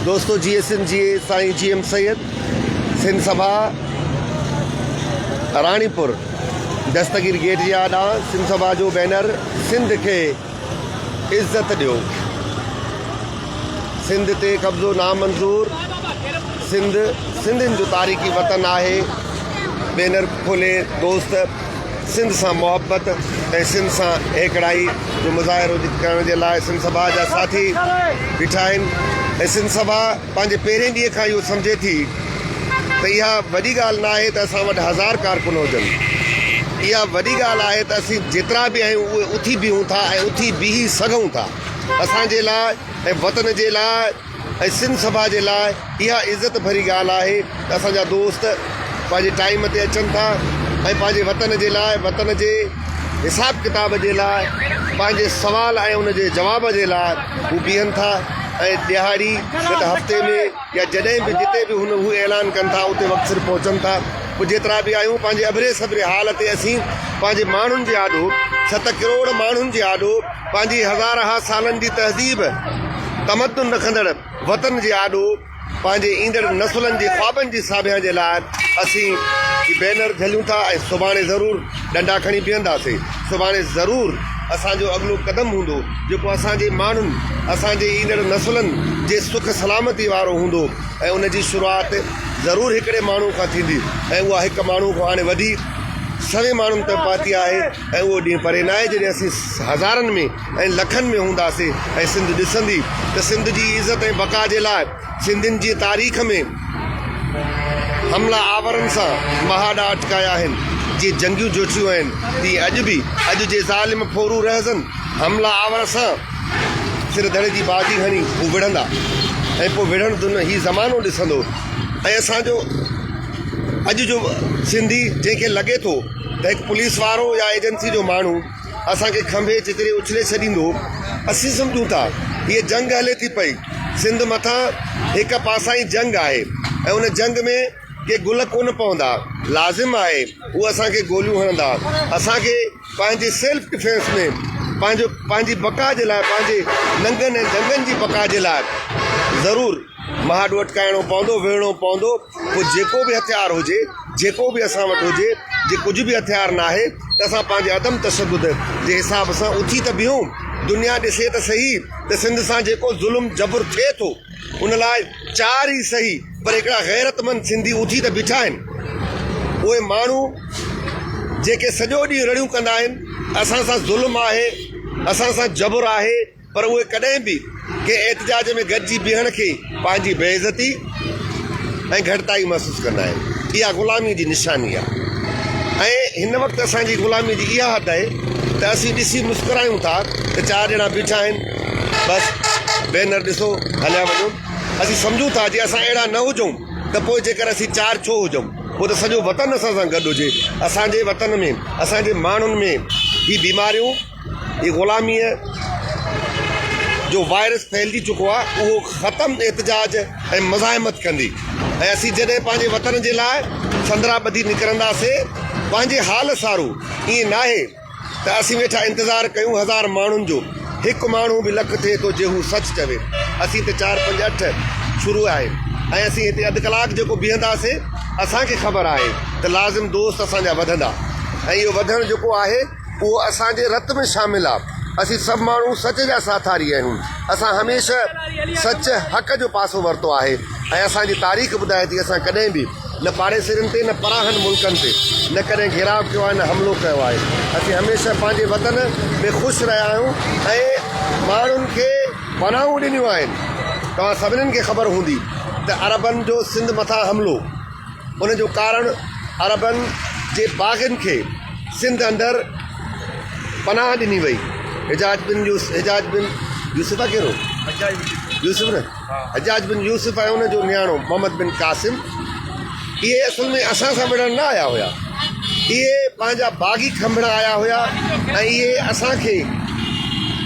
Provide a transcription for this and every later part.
دوستو جي ايس ايم جي اي سائين جي ايم سيد سن سبھا راڻي پور دستگير گيٽ جي آڏا سن سبھا جو بينر سنڌ کي عزت ڏيو سنڌ تي قبضو نامنظور سنڌ سنڌين جو تاريخي وطن آهي بينر کولي دوست سنڌ سان محبت ۽ سنڌ سان هيڪڙائي جو مظاهرو ڪرڻ جي لاء سنڌ سڀا جا ساٿي بيٺا آهن ۽ سنڌ سڀا پنهنجي پهرين ڏينهن کان اهو سمجهي ٿي ته اها وڏي ڳالهه نه آهي ته اسان وٽ هزار ڪارڪن هجن، اها وڏي ڳالهه آهي ته اسين جيترا به آهيون اهي اٿي بيهون ٿا ۽ اٿي بيهي سگهون ٿا. اسان جي لاء ۽ وطن جي لاء ۽ سنڌ سڀا جي لاء اها عزت ڀري ڳالهه آهي ته اسان جا دوست پنهنجي ٽائيم تي اچن ٿا ۽ پنهنجي وطن جي لاء وطن جي حساب ڪتاب جي لاء، پنهنجي سوال ۽ ان جي جواب جي لاء هو بيهن ٿا ۽ ڏهاڙي، گڏ هفتي ۾ يا جڏهن به جتي به هن هو اعلان ڪن ٿا اتي وقت سر پهچن ٿا. پوء جيترا به آهيون پنهنجي اڀري سڀري حال تي اسين پنهنجي ماڻهن جي آڏو، ست ڪروڙ ماڻهن جي آڏو، پنهنجي هزارها سالن جي تهذيب، تمدن رکندڙ وطن جي آڏو، پنهنجي ايندڙ نسلن جي خوابن جي ساڀيان جي لاء اسين هي بينر جهليون ٿا ۽ سڀاڻي ضرور ڏنڊا کڻي بيهنداسين. سڀاڻي ضرور اسان جو اڳلو قدم هوندو جيڪو اسان جي ماڻهن، اسان جي ايندڙ نسلن جي سک سلامتي وارو هوندو ۽ ان جي شروعات ضرور هڪڙي ماڻهو کان ٿيندي ۽ اها هڪ ماڻهو کان هاڻي وڌي سوين ماڻهن تائين پهتي آهي ۽ اهو ڏينهن پري ناهي جڏهن اسين هزارن ۾. ۽ لکن ۾ هونداسين ۽ سنڌ ڏسندي ته سنڌ جي عزت ۽ بقا جي لاء سنڌين جي تاريخ ۾ حملا آورن سان مهاڏا اٽڪايا آهن جيئن جنگيون جوڇيون آهن تيئن اڄ به اڄ جي ظالم ڦورو رهزن حملا آور سان سر ڌڙي جي بازي هڻي هو وڙهندا ۽ پوء وڙهڻ دن هي زمانو ڏسندو ۽ اسان جو اڄ جو سنڌي جنهن کي لڳي ٿو ته هڪ پوليس وارو يا ايجنسي جو ماڻهو اسان کي کنڀي جيتري اڇلي ڇڏيندو. اسين سمجهون ٿا هيء جنگ هلي ٿي پئي. سنڌ مٿان هڪ پاسائين جنگ آهي ۽ ان جنگ ۾ ڪي گل ڪونه پوندا. لازم آهي هو اسان کي گوليون هڻندا. اسان کي پنهنجي سيلف ڊفينس ۾ پنهنجو پنهنجي بقا جي لاء پنهنجي ننگن ۽ ڄنگهن جي بقا جي لاء ضرور. مهاڏ وٽڪائڻو پوندو، ويهڻو پوندو، پوء جيڪو به هٿيار هجي، جيڪو به اسان وٽ هجي، جي ڪجهه به هٿيار ناهي ته اسان پنهنجي عدم تشدد جي حساب سان اٿي ته بيهون، دنيا ڏسي ته سهي ته سنڌ سان جيڪو ظلم جبر ٿئي ٿو ان لاء چار ئي سهي پر هڪڙا غيرتمند سنڌي اٿي ته بيٺا آهن اهي ماڻهو جيڪي سڄو ڏينهن رڙيون ڪندا آهن اسان سان ظلم آهي، اسان سان جبر آهي. پر اهي ڪڏهن به ڪنهن احتجاج ۾ گڏجي بيهڻ کي پنهنجي بي عزتي ۽ گهٽتائي محسوس ڪندا آهن. اها غلامي جي نشاني آهي ۽ هن وقت اسان جي غلامي جي اها حد آهي ته اسين ڏسي مسڪرايون ٿا ته چار ڄڻا بيٺا آهن بس بينر ڏسو هليا وڃو. اسين سمجهون ٿا جي اسان اهڙا نه هجون ته پوء جيڪر اسين چار ڇو هجون پوء ته سڄو وطن اسان سان گڏ هجي. اسان جي وطن ۾ اسان جي ماڻهن ۾ هي بيماريون. هي غلاميء جو وائرس ڦهلجي چڪو آهي، اهو ختم احتجاج ۽ مزاحمت ڪندي ۽ اسين جڏهن پنهنجي وطن جي لاء سندرا ٻڌي نڪرنداسين، پنهنجي حال سارو ائين ناهي ته اسين ويٺا انتظار ڪيون هزار ماڻهن جو، هڪ ماڻهو به لک ٿئي ٿو جي هو سچ چوي، اسين ته چار پنج اٺ شروع آهي ۽ اسين هتي اڌ ڪلاڪ جيڪو بيهنداسين، اسان کي خبر آهي ته لازم دوست اسان جا وڌندا ۽ اهو وڌڻ جيڪو آهي. اهو اسان جي رت ۾ شامل آ. اسين سڀ ماڻهو سچ جا ساٿاري آهيون. اسان هميشه سچ، حق جو پاسو ورتو آهي ۽ اسان جي تاريخ ٻڌائي ٿي اسان ڪڏهن به نه پاڙيسرين تي نه پراهن ملڪن تي نه ڪڏهن گهيراء ڪيو آهي نه حملو ڪيو آهي. اسين هميشه پنهنجي وطن ۾ خوش رهيا آهيون ۽ ماڻهن کي پناهون ڏنيون آهن. توهان سڀنين کي خبر هوندي ته عربن جو سنڌ مٿان حملو. ان جو ڪارڻ عربن جي باغين کي سنڌ اندر پناهه ڏني وئي. حجاج بن يوسف Hajjaj bin Yusuf حجاج بن يوسف Hajjaj bin Yusuf ۽ ان جو نياڻو محمد بن قاسم اهي اصل ۾ اسان سان وڙهڻ نه آيا هيا. اهي پنهنجا باغي کنڀڻ آيا هيا ۽ اهي اسان کي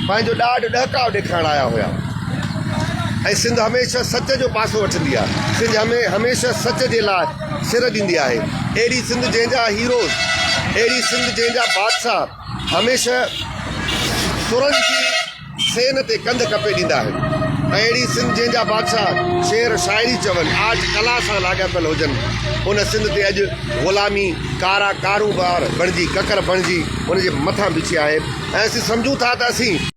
پنهنجو ڏاڍ ڏهڪاء ڏيکارڻ آيا هيا ۽ سنڌ هميشه سچ جو پاسو وٺندي آهي سنڌ هميشه سچ جي لاء سر ڏيندي آهي اهڙي سنڌ جنهن جا هيروز اهڙي سنڌ جنهن جا بادشاهه هميشه ترن جي سين تي ڪنڌ ڪپي ڏيندا آهن ۽ اهڙي سنڌ جنهن جا بادشاهه شعر شاعري چون، آرٽ ڪلا سان لاڳاپيل هجن، ان سنڌ تي اڄ غلامي ڪارا ڪارونڀار بڻجي ڪڪر بڻجي ان جي مٿان بڇي آهي ۽ اسين سمجهون ٿا ته اسين.